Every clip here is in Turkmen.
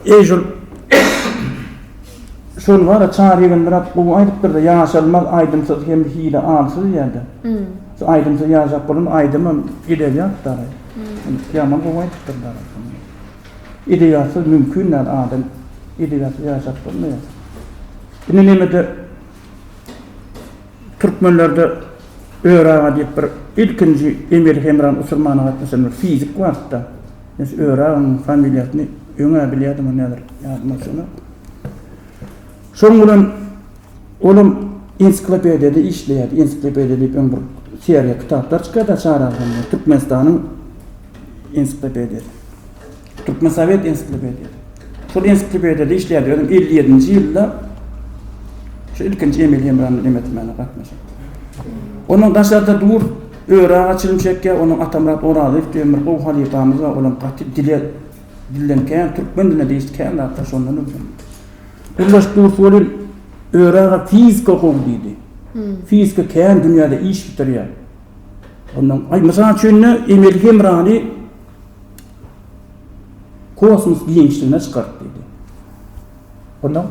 Eý şul şul bara çar ýigim bir at gowy aýdypdyr-da ýaşalmaz aýdymsyz hem hili alsyz diýýärdi. Şu aýdymsyz ýaşap bolan aýdymam edebiýat dary. Ýaman gowy aýdypdyr dary. Edebiýatsyz mümkin däl adam edebiýatsyz ýaşap bolmaýar. Indi nemede Türkmenlerde Ör aga diýip bir ilkinji emeli hemran usurmana gatnaşan bir fizik bardy-da. Men şu Ör aganyň familiýasyny öň-ä bilýärdim-ä näder, ýadyma düşenok. Şoň bilen olam ensiklopediýada işleýärdi. Ensiklopediýa diýip öň bir seriýa kitaplar çykýardy-a Çar agzamda, Türkmenistanyň ensiklopediýasy. Türkmensowet ensiklopediýasy. Şol ensiklopediýada işleýärdi. Özüm elli ýedinji ýylda şu ilkinji emeli hemramda demetilmäne gatnaşyp. Onuň daşarda dur, öri aga çilim çekýär. Onuň Atamyrat Orazow diýen bir gowy halypamyz bar. Olam gaty dile dilden kän, türkmen diline degişli kän zatlar şondan öwrendim. Gurlaş Dursu welin, öri aga fizika gowy diýdi. Fizika kän dünýäde iş bitirýär. Ondan, aý, mysal üçin-de, emeli hemrany Kosmos giňişligine çykart diýdi. Onda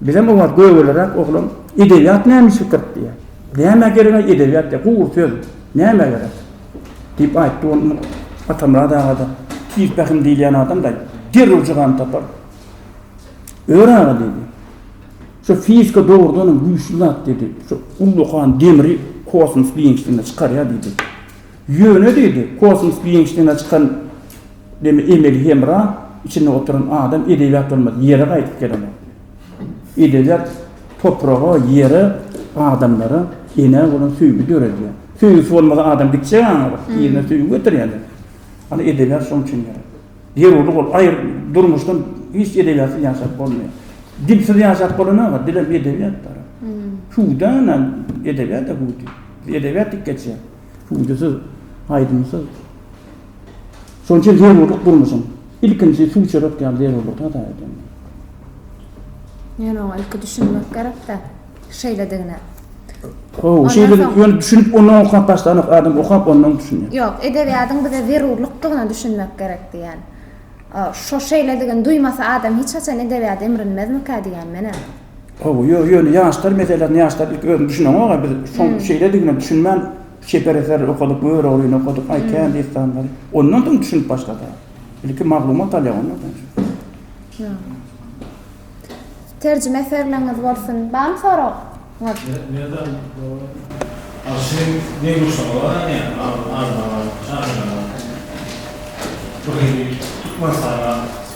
bizem oňa gögeleräk oglan edebiýat nämişlik gyryp diýýär. Nämä geregaý edebiýat diýýär. Gury söz. Nämä gerek? diýip aýtdy. Onda Atamyrat aga-da tiz pähim diýilýän adam-da derrew jogany tapar. Ör aga diýdi. Şu fizika dogrudanam güýçli zat diýdi. Şu ullakan demri kosmos giňişligine çykarýar diýdi. Ýöne diýdi, kosmos giňişligine çykan demi emeli hemra içinde oturan adam edebiýat bolmaz, ýere gaýdyp gelen bolup biler. Edebiýat topraga, ýere, adamlara, enä bolan söýgi döredýär. Söýgüsi bolmasa adam gitjek aňyryk, yzyna söýgi getirýändir. Ana edebiýat şoň üçin gerek. Zerurlyk ol, aýr, durmuşdan hiç edebiýatsyz ýaşap bolmaýar. Dilsiz ýaşap bolanok-a, dilem edebiýatdyr. Hüwdü-ä ene, edebiýat-a hüwdi. Edebiýat dik geçýär. Ündüsiz, aýdymsyz. Şonuň üçin zerurlyk durmuşyň ilkinji suw içerek ýaly zerurlygy hasap edýän. Ýöne oňa ilki düşünmek gerek-dä şeýledigine. Hawa, şeýle ýöne düşünip ondan okap başlanok, adam okap ondan düşünýär. Ýok, edebiýadyň bize zerurlykdygyna düşünmek gerek diýýän. Şo şeýledigini duýmasa adam hiç haçan edebiýat emrinmezmikä diýýän menä. Hawa, ýöne ýöne ýaşlar meselesini ýaşlar ilki özüni düşüneňoga biz şoň şeýledigine düşünmän çeper eser okadyk, Göroglyny okadyk, aý kän dessanlary. Ondan soň düşünip başlada. Ilki maglumat alýa ondan soň. Ýa. Terjime eserleriňiz bolsun. Barmy sorag? Ňyz. Nerden o aşyk ne guşa olar ya armana şahyra. Türkmenistana.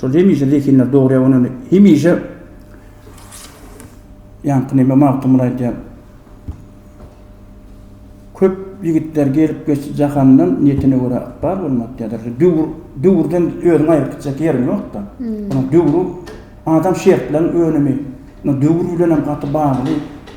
Şol hemişe zehinler dogurýar ony hemişe ýaňky neme Magtymguly aýdýar. Köp ýigitler gelip geçdi jahandan niýetine görä ykbal bolmady diýýärler. Döwür döwürden özüňi aýryp gitjek ýeriň ýokda. Döwür adam şertleň önümi. Döwür bilenem gaty bagly.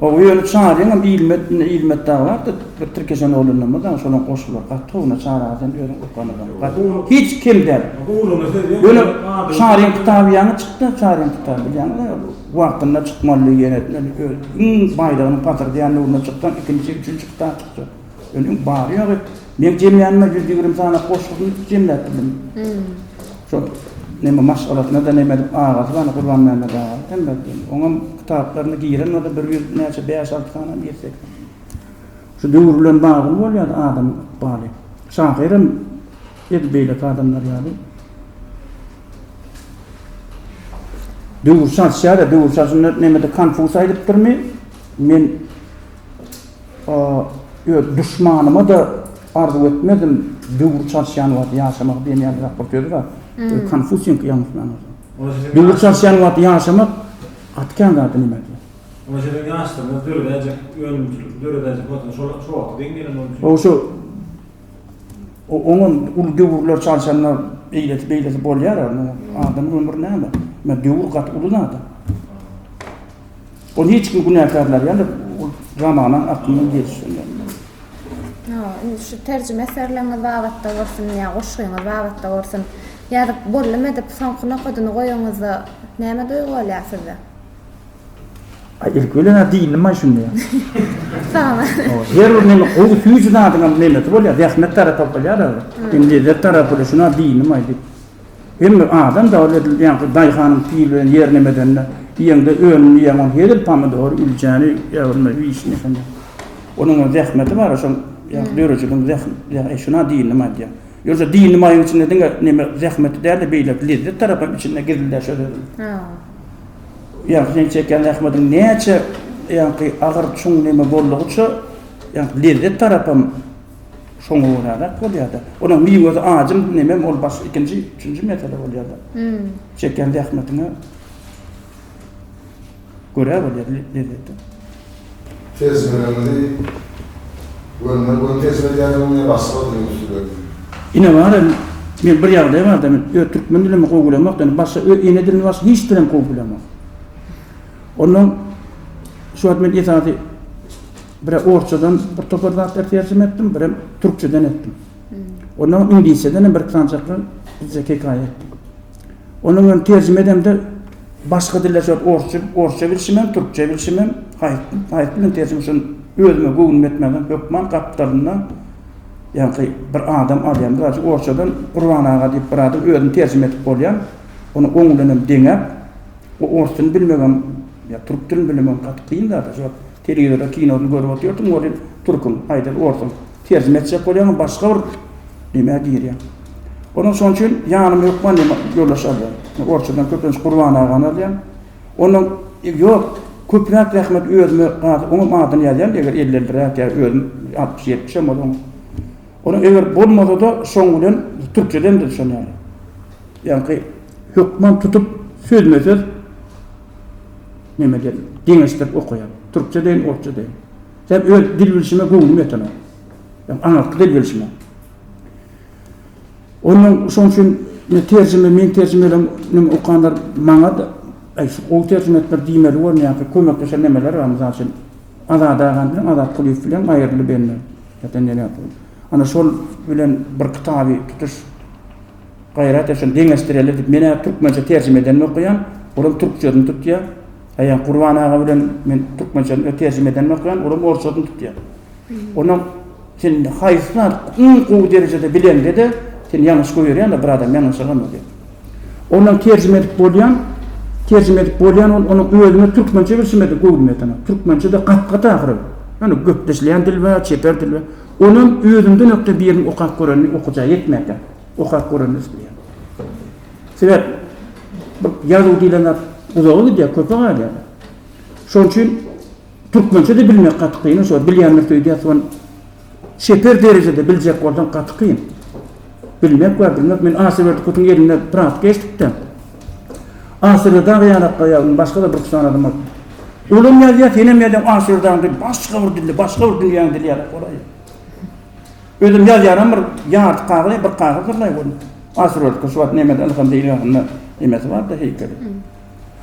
Ow ýöne çaryňam ilmet indi ilmet dagy bardy bir tirkeşen oglanymyz dagy şolam goşular gaty gowy na çara sen özüň okanada gaty hiç kem däl ýöne çaryň kitaby ýaňy çykda çaryň kitaby bilýäňiz a wagtynda çykmalydy ýene öl öl iň baýdygynyň patyr diýen nuruna çykdan ikinji üçünji kitap çykjak. Öňem bary-ýogy meň jemlänime ýüz ýigrimi sany goşgyny jemläp bildim. Şo näme maşgalasyna-da näme edip, agasy bany Gurbanmämmet aga. Elbetde, oňam kitaplaryna giren bolsa bir ýüz näçe, bäş-alty sanam girsek. Şu döwür bilen bagly bolýar-da adamyň ykbaly. Şahyram edil beýleki adamlar ýaly. Döwür çalyşýar-a, döwür çalşynda nämedir Konfus aýdypdyrmy, men Öz duşmanyma-da arzuw etmezdim, Döwür çalyşýan wagt ýaşamak diýen ýalyrak bir söz bar. Konfusiýiňki ýalňyşmansoň. Döwür çalyşýan wagt ýaşamak gaty kän zady neme diýýär. Oňa şeýle ýaşdygyňyz döredäýjek önümçilik, döredäýjek wagtyňyz şol wagta deň gelen bolsun. Gowy şu oňa uly döwürler çalyşanda eýlesi beýlesi bolýar-a. Adamyň ömri näme? Döwür gaty uly zad-a. Ol hiç kim günäkärler ýaly ol zamana akymyna ýetiş bilmez. Hawa, indi şu terjime eserleriňiz babatda bolsun ýa goşgyňyz babatda bolsun, ýazyp boldum edip soňky nokadyny goýanyňyzda näme duýgy bolýar sizde? Aý, ilki bilen a diýilmän şunda. Salam. Her bir näme gowy süýji zadyňam nemesi bolýar, zähmet tarapy bolýar-a. Indi lezzet tarapy şuna diýilmän diýip. Hem bir adam dagy ledil ýaňky daýhanyň pil bilen ýerini emedende, iýeňde önümli iýeň ony hezil pomidory, ülçäni, ýagylma wişni şonda. Onuň hem zähmeti bar şoň ýa dörejiniň zäh e şuna dynnym aýdýan. Ýogsa dynnym aýyň içinde diňe neme zähmeti dälde beýleki lezzet tarap hem içinde gizliler şo sözüň. Ýa sen çekýän zähmetiň näçe ýaňky agyr çuň neme boldugyça ýa lezzet tarap hem Şoňa göräräk bolýar-da. Onuň miwesi ajym, nemem ol başga ikinji, üçünji mesele bolýar-da. Çekýän zähmetiňe görä bolýar lezzeti. Tejribenizi göni göni tejribe edýärsiňizmi ýa başga bir diliň üstündemi? Ine bar indi, men bir ýagdaý bar-da, men öz türkmen dilimi gowy bilemok, indi başga öz ene dilini başga hiç dilem gowy bilemok. Onnoň şu wagt men esasy Bire orsçadan bir topar zatlar terjime etdim, birem türkçeden etdim. Ondan soň iňlisçeden hem bir-iki sanjaklar bizde hekaýa etdim. Onuň hem terjime edemde başga diller şol orsça, orsça bilşim hem, türkçe bilşim hem, haýp, haýp bilen terjime şol özüme göwnüm ýetmänsoň hökman gapdalynda ýaňky bir adam alýan. Mysal üçin orsçadan Gurban aga diýip bir adam özüni terjime edip bolýan. Ony oň bilen hem deňäp, o ors dilini bilmegem, ýa türk dilini bilmegem gaty kyn zat-a. Şo Telewizorda kinony görüp otyrdym, welin türküm, aýdaly orsum. Terjime etjek bolýaňam başga bir nämä girýäň. Onuň şonuň üçin ýanyma hökman näme ýoldaş alýan. Orsçadan köplenç Gurban agany alýan. Onuň ýok, köpräk zähmet özüme gaty oňam adyny ýazýan eger elli-elliräk ýa özüm altmyş-ýetmişem bolan. Onuň eger bolmasa-da şoň bilen türkçeden-de şonuň ýaly. Ýaňky hökman tutup sözme-söz Neme dedim. Deňeşdirip okaýan. Türkçe deýin, orsça deýin. Sen öz dil bilşime göwnüm ýetenok. Sen aňyrky dil bilşime. Onuň şoň üçin ne terjime, men terjime eden, men okanlar maňa da Aý, şu gowy terjime etdiler diýmeli bolun ýa-da kömekleşen nemeler bar, mysal üçin, Azat agam bilen Azat Kulyýew bilen aýrylyp indi. Ýa-da nere ýapylyp. Ana şol bilen bir kitaby tutuş. Gaýrat et şony deňeşdireli diýip menä türkmençe terjime edenimi okaýan, olam türkçesini tutýa. Aýan Gurban aga bilen men türkmençesini öz terjime edenimi okaýan, olam orçasyny tutýa. Onam sen haýsy zady iň gowy derejede bileňde-de sen ýalňyş goýberýäňdä bir adam ýalňyşagandyr diýip. Onam terjime edip bolýan, terjime edip bolýan ol onuň özüme türkmençe bilşimede gowy bilmedi onam. Türkmençede gat-gat ahyry. Ýöne gepleşilýän dil we çeper dil we onam özümden ökde birini okap görenini okajagy ýetmänkä. okap göremez diýýän. Sebäp bu ýazuw diýlen zat uzaga gidýär, köpe galýar. Şonuň üçin türkmençe-de bilmek gaty kyn, şo bilýän birisi öýdýär, soň çeper derejede biljek bolsaň gaty kyn. Bilmek we bilmek, men Asy Berdikowyň elinde praktika geçdik-de. Asy Berdaga ýalakda ýazdym, başga-da bir-iki sany adama. Olam ýazýar, senem ýazýaň, Asy Berdagyň dili başga bir dilde, başga bir dünýäniň dili ýaly, golaý. Özüm ýazýanam bir ýarty kagyz, bir kagyzdyrlaý görüň. Asyrovka şu wagt nämede ylham deýilýäninde nemesi bardy heýkeli.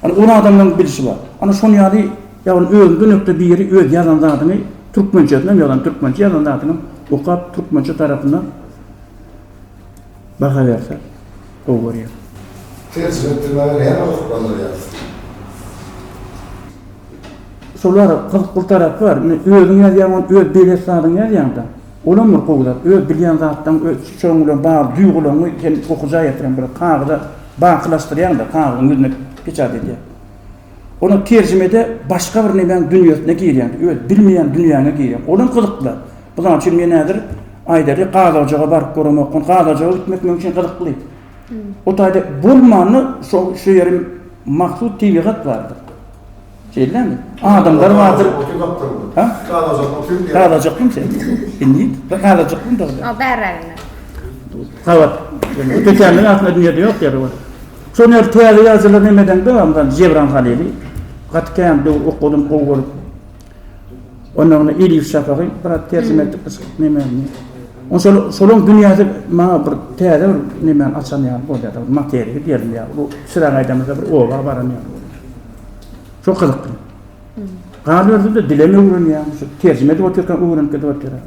Ol uly adamlaryň bilşi bar. Ana şonuň ýaly ýagny öňki dönemde biri öz ýazan zadyny türkmençesinem ýazan, türkmençe ýazan zadyny okap türkmençe tarapyndan Baha berse gowy görýän. Terjime etdirmäge näme gyzyklandyrýar sizi? Şolar gyzyk bir tarapy bar. Indi özüň ýazýaň ony öz belet zadyňy ýazýaňda. Olam bir gowy zat. Öz bilýän zatlaň öz şoň bilen bagly duýgulaňy sen okuja ýetiren bir kagyza bakylaşdyrýaňda kagyzyň ýüzüne peçat edýäň. Onuň terjimede başga bir nemäň dünýesine girýän, öz bilmeýän dünýäňe girýän. Olam gyzykly. Mysal üçin, men häzir aýdaly gaz ojaga baryp göremokgyn, gaz ojaga gitmek meň üçin gyzykly. O taýda bolmanda şo şu ýerim mahsus tebigat bardyr. Şeýdämi? Adamlar bardyr. Ha? Gaz ojakda oturyp. Gaz ojakmy sen? Indi bir gaz ojakmy dogry? O bäräginde. Gabat. Tötänligiň aslynda dünýäde ýok ýeri bar. Şonuň ýaly täze ýazyjylar neme edeňde, mysal, Jebran Halyly gaty kän döwür okadym, gowy görüp. Onnoňda Eliýew Şapagy biraz terjime etdik biz nemäni. Oň şol şolaryň dünýäsi maňa bir täze bir nemäni açan ýaly bolýar, bir materiýa berilýär. Bu Çyragaýdamyzda bir oba baran ýaly bolýar. Şo gyzykly. Galyberdi-de dilem öwrenýär, şu terjime edip otyrka öwrenip gidip otyrka.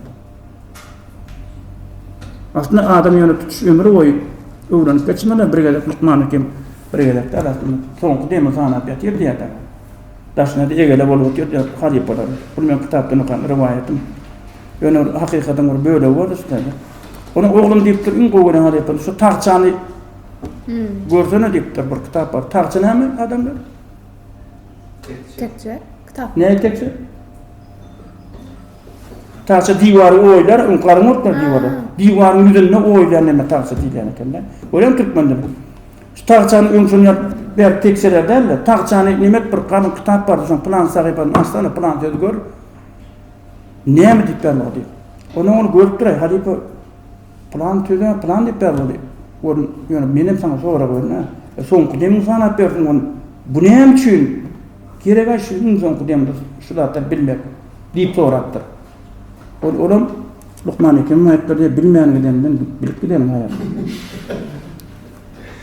Aslynda adam ýöne tutuş ömür boýy öwrenip geçmeli, bir gezek lukman hekim bir gezek däl aslynda soňky demi sanap ýatyr diýýärdi. Daşyna-da egele bolup otyrdy halypalar. Bul meň kitapdan okan rowaýatym. Ýöne ol hakykatyň bir bölegi boldy şu taýda. Onuň oglum diýipdir, iň gowy gören halypam şu tagçany görsene diýipdir, bir kitap bar. Tagça näme adamlar? Tekje. Tekje. Kitap. Näme tekje? Tagça diwary oýlar, ynkaryň otlar diwara. Diwaryň ýüzünde oýlan näme tagça diýilýän eken-dä. Görýäň türkmende bu. Şu tagçany öň şony ýap, bäri tekjeler dälde, tagçany nemet bir galyň kitap bardy, şoň pylan sahypany açsana, pylan sözi gör. Näme diýip ýazmagy diýip. Onam ony görüp duraý, halypa. Pylan söze pylan diýip ýaz bolup gör, ýöne menem saňa sorag berme. Soňky demiňi sanap bersin gon. Bu näme üçin gerek-ä şu iň soňky demde şu zatlary bilmek? diýip sorapdyr. Ol olam lukman Hekimiň aýtdygy ýaly bilmän gideninden bilip gideniň haýyrsy.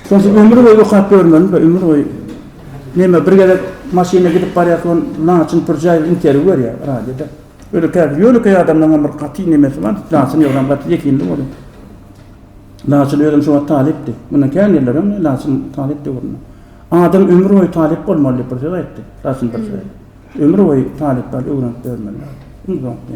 Şonça ömür boýy okap ýörmeliň-dä, ömür boýy. Neme bir gezek maşynda gidip barýarka gon, laçyn pürjäý bir interwýu berýär radioda. Öli käbir ýönekeý adamlaryň hem bir gaty nemesi bar, laçyn ýolam gaty ýekindi bolar. Laçyn özem şuwagt talypdy. Mundan kän ýyllar öň laçyn talypdy öwrüne. Adam ömür boýy talyp bolmaly diýip bir söz aýtdy. Laçyn bir söz. Ömür boýy talyplar öwrenip ýörmeli. Iň soňky.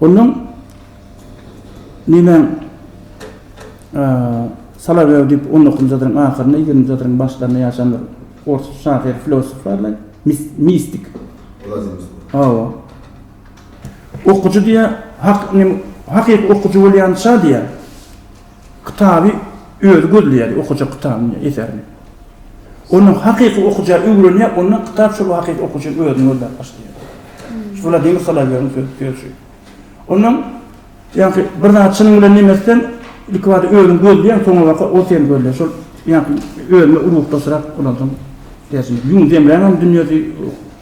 Ondan nemäň Solowew diýip on dokuzynjy asyryň ahyrynda, ýigriminji asyryň başlarynda ýaşan bir ors şahyr, filosof barlaý, mistik. Hawa. Okyjy diýýär, hakyky okyjy bolýança diýýär. Kitaby özi gözleýärdi, okajak kitabyny, eserini. Ondan hakyky okujy öwrenýär, ondan kitap şol hakyky okujyny özüni gözläp başlaýar. Şu Wladimir Solowýowyň söz, söz şu. Ondan, ýagny, bir zat çynyň bilen nemes etseň, ilkibada özüň gözleýäň, soňabaka ol seni gözleýär. Şol, ýagny, özüňe ruhdaşrak bolansoň, däşimi, ýüňi zemränam dünýesi,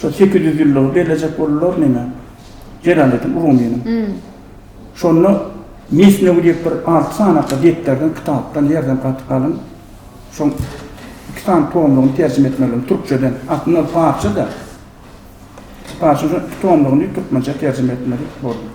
Şo sekiz ýüz ýyllygy bellejek boldular neme, Jelaleddin Rumynyň. Şonda Mesnewi diýip bir alty sanakly depderden, kitapdan, ýerden gaty galyň şoň iki sany tomlugyny terjime etmelidiň türkçeden. Aslynda ol parsça-da. Parsça şoň iki tomlugyny türkmençä terjime etmeli boldular.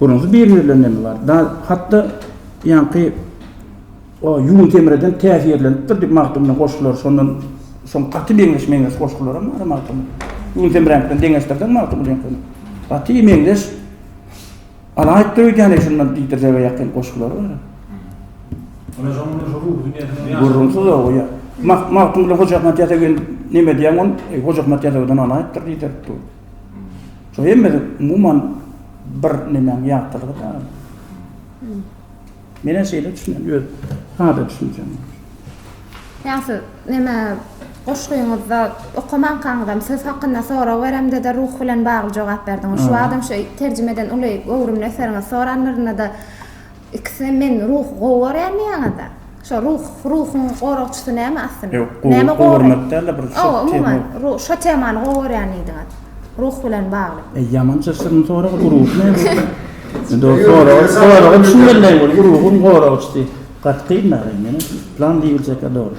Gürrüňsiz bir-birlerine näme bar? Dal, hat-da ýaňky o ýüň semreden täsirlenipdir diýip Magtymgulyň goşgulary şondan soň gaty meňzeş-meňzeş goşgularam bar Magtymgulyň. Ýüň semräniňki bilen deňeşdirseň Magtymgulyňkyny, gaty meňzeş. Alaýypdyr öýdýän-eý şundan diýdirjege ýakyn goşgulary bar. Ony şoň bilen şo ruhy dünýäsiniň ýa. Gürrüňsiz o, ýa. Magtymguly Hojaahmet Ýasawy neme diýýäň ony? Hojaahmet Ýasawydan alaýypdyr diýdirip dur. Şu hemme umuman bir nemäň ýagtylygy däl. Menen şeýle düşünýän, öz sada düşünjem. Ýa siz näme goşgyňyzda okamankaňyzam söz hakynda sorag beremde-de ruh bilen bagly jogap berdiňiz. Şu wagtam şu terjime eden uly göwrümli eseriňizi soranlarynda-da Ikisem men ruh gowarýarmy ýaňada? Şo ruh ruhuň goragçysy näme aslynda? Ýok, gowy gormak däl-de bir şo tema. Umuman, şo temany gowy görýän diýdiňiz. Ruh bilen bagly. Eý, ýamança şirin sorag bu ruh näme? Dogry sorag, soraga düşünmelidiň ol ruhuň goragçysy. Gaty kyn-da, ýene plan diýiljek-ä dogry.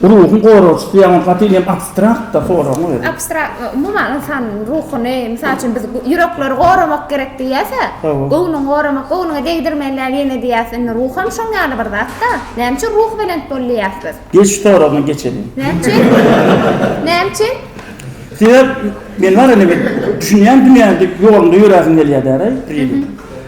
Ruhuň goragçysy ýa onuň gaty inem abstrakt-da soragyň özi. Abstrakt, umuman ynsanyň ruhuny, mysal üçin biz ýürekleri goramak gerek diýýäs-ä, göwnüňi goramak, göwnüňe degdirmeli ýene diýýäs, indi ruh hem şoň ýaly bir zat-da. Näme üçin ruhubelent bol diýýäs biz? Gel şu soragyňa geçeliň. Näme üçin? Näme üçin? Sebäp, men bar ene bir düşünýän dünýäňde, ýolunda ýöräsiň gelýär däl-aý, Prilik.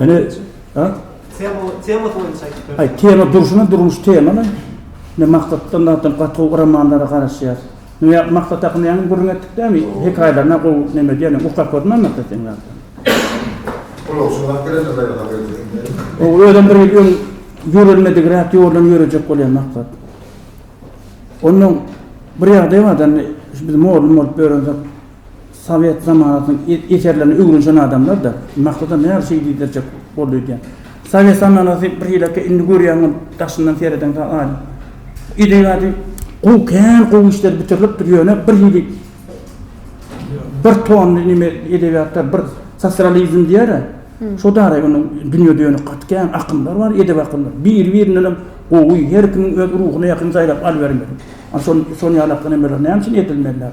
Ene ha? Tema tema boýunça aýdyp Ay tema durşuna durmuş temany. Ne maksatdan zaten gaty romanlara garaşýar. Ne maksat hakynda ýaňy gürrüň etdik dämi? Hekaýalaryna gowy neme diýýän, uçak görmän maksat sen zaten. Ulag şu wagt gelende gaýra haber berýär. O özem bir ýyl öň ýörelmedik rät ýordan ýörejek bolýar maksat. Onnoň bir ýagdaý bar-da indi şu biz mordun bolup ýörensoň. Sowet zamanasynyň eserlerini öwrenişen adamlar-da, Magtymda näme üçin gizdirjek boldy öýdýän. Sowet zamanasy bir hile-kä, indi görýän bolup, daşyndan seredeňde aýdyň. Edebiýady gowy, kän gowy işler bitirilipdir, ýöne bir hili bir tonly neme edebiýatda bir sosrealizm diýer-ä, şo dagy onuň dünýä dönük gaty kän akymlar bar, edebi akymlar. Biri-birindenem gowy, her kimiň öz ruhuna ýakyn saýlap alybermeli. Şo-şonuň ýalakly nemeler näme üçin edilmelidir?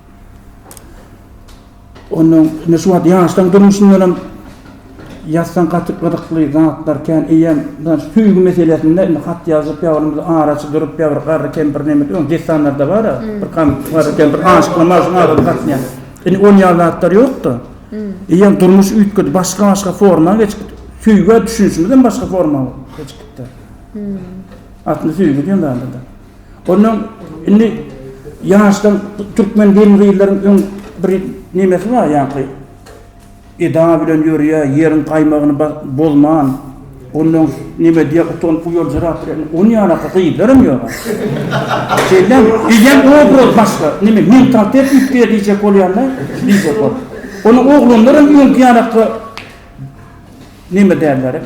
Ondan indi şu wagt ýaşlaň durmuşyndanam ýazsaň gaty gyzykly zatlar kän eýýäm mydam şu söýgi meselesinde indi hat ýazyp ýa bolmasa araçy durup ýa bir garry kempir neme diýip onuň dessanlarda bara bir garry kempir aşyklama üçin araly gatnaýar indi ol ýaly zatlar ýokda eýýäm durmuş üýtgedi başga başga forma geçip gitdi söýgä düşünişimizem başga forma geçip gitdi aslynda söýgi diýen zada da. Ondan indi ýaşdan türkmen gelin-gyzlaryň öň bir nemesi bar ýaňky eda bilen ýörýä, ýeriň gaýmagyny bozman, ondan neme diýýär, utanyp uýaljyrap bilen, onuň ýalaka gyzlaram ýok. Şeýdem, bizem obraz başga, neme mentalitet üýtgeýär diýjek bolýan-da, diýjek bolup. Onuň oglanlaram öňki ýalaka Neme dälleri.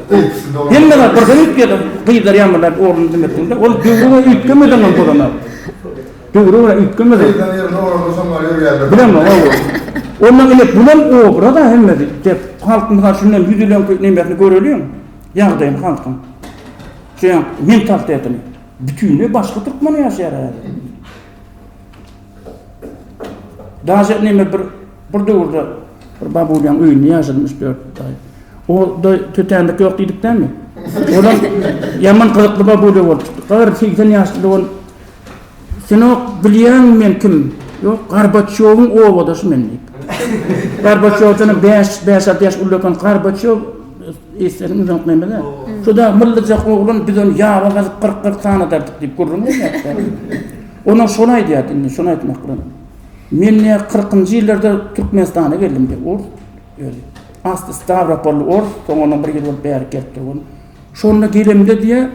Hemmeler birden üýtgedim. Gyzlar ýaňylar ornuny diňletdiňde, ol döwre görä üýtgemedem hem bolanok. Döwre görä üýtgemedem. Gyzlaryň ýerine olardan soň bar ýörýärler. Bilemok, hawa. Onda ine bulam obraz-a hemmesi. Dep, halk mysal üçin näme ýüz ýylyň nemesini göreliň, ýagdaýyny halkyň. Şu ýa, mentalitetini. Bütinleý başga türkmen ýaşaýar häzir. Daže neme bir bir döwürde bir babulýaň öýünde ýaşadym üç dört aý. O da tötänlik ýok diýdikdämi? Olam ýaman gyzykly babulýa bolupdy. Gar segsen ýaşly dogan. Senok bilýäňmi men kim? Ýok, Garbaçýowyň owadaşy men diýip. Garbaçýowdan bäş bäş alty ýaş ullakan Garbaçýow eýseniň uzak nemede. Şuda myllyjak oglan biz ony ýaba gazyp kyrk kyrk sanadardyk diýip gürrüň berýärdi. Onam şony aýdýardy indi, şony aýtmak bilen. Men ne kyrkynjy ýyllarda Türkmenistana geldim diýip, ors özi. Asly Stawropolly ors, soň onam bir ýyl bolup bärik gelip durgun. Şonda gelemde diýe,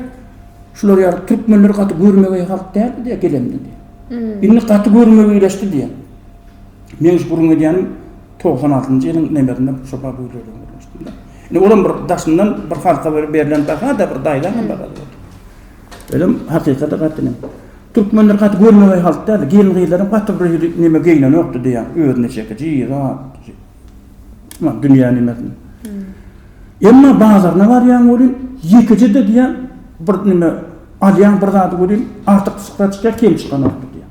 şular ýaly türkmenler gaty görmegeý halk däldi diýe gelemde diýe. Indi gaty görmegeýleşdi diýe. Men şu gürrüň edýänim togsan altynjy ýylyň nemesinde şo babuýlerde gürleşdim-de. Indi olam bir daşyndan bir halka bir berlen baha-da, bir daýzam bar. Özem hakykata gaty inem. Türkmenler gaty görmegeý halk däldi. Gelin-gyzlaram gaty bir hili neme geýnenokdy diýýän. Özüne çekiji zat. Muňa dünýä nimesini. Emma bazaryna barýaň welin, ýekeje-de diýýän bir neme alýaň bir zady welin, artykçylyk zat çykýar, kem çykanokdy diýýär.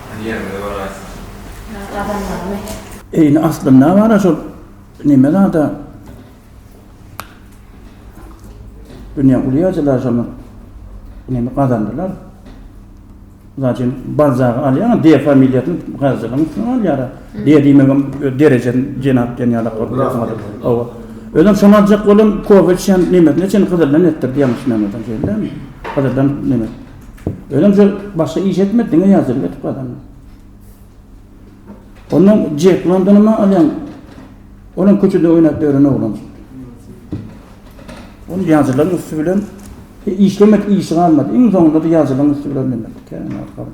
Hany ýerimize baraýsyň. Adamlarmy? Eýni aslynda bar-a şol neme zada. Dünýäň uly ýazyjylary şony neme gazandylar. Zaçem Balzagy alýaň, D familiýasyny ýazyjylaryň üstüne alýar-a. D diýmegem öz derejen jenap diýen ýalak bolup ýazmaly. Hawa. Özem şony aljak bolan kofe içýän nemesine çenli gyzyldan etdirdi ýalňyşmaýan bolsam şeýdilemi? Gyzyldan neme. Özem şol başga iş etmedi, diňe ýazylyp edip gazandy. Ondan Jek Londonyma alýan, olam köçede oýnap ýören oglan. Ol ýazylaryň üsti bilen e, işlemek işi galmady. Iň soňunda da ýazylaryň üsti bilen demek. Kän arkaly.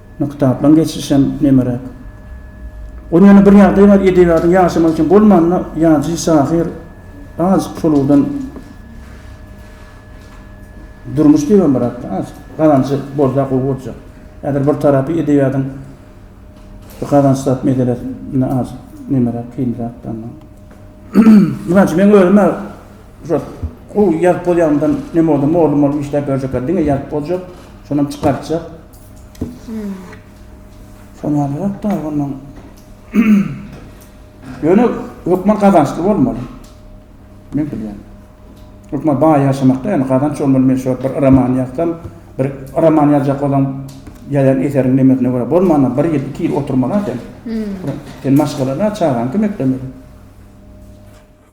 Indi kitaplaň geçirişem nemeräk. Ony ýöne bir ýagdaý bar edebiýatyň ýaşamagy üçin bolmanda ýazyjy şahyr azjyk şol ugurdan durmuş diýibem birazda azjyk gazanjy bolsa gowy boljak. Häzir bir tarapy edebiýatyň bu gazanç zat meselesinde azjyk nemeräk kynrak danda. Mysal üçin meň özüm-ä şo gowy ýazyp bolýanymdan neme bolsa mollum bolup işläp ýörjekler diňe ýazyp boljak, şonam çykartjak. Sonalrak da ondan Ýöne hökman gazançly bolmaly. Men bilýän. Hökman baý ýaşamakda ýöne gazanç bolmaly. Men şu bir roman ýazsam, bir roman ýazjak bolan ýazan eseriň nemesine görä bolmana bir ýyl, iki ýyl oturmaly sen. Sen maşgalana çagaň kim eklemeli?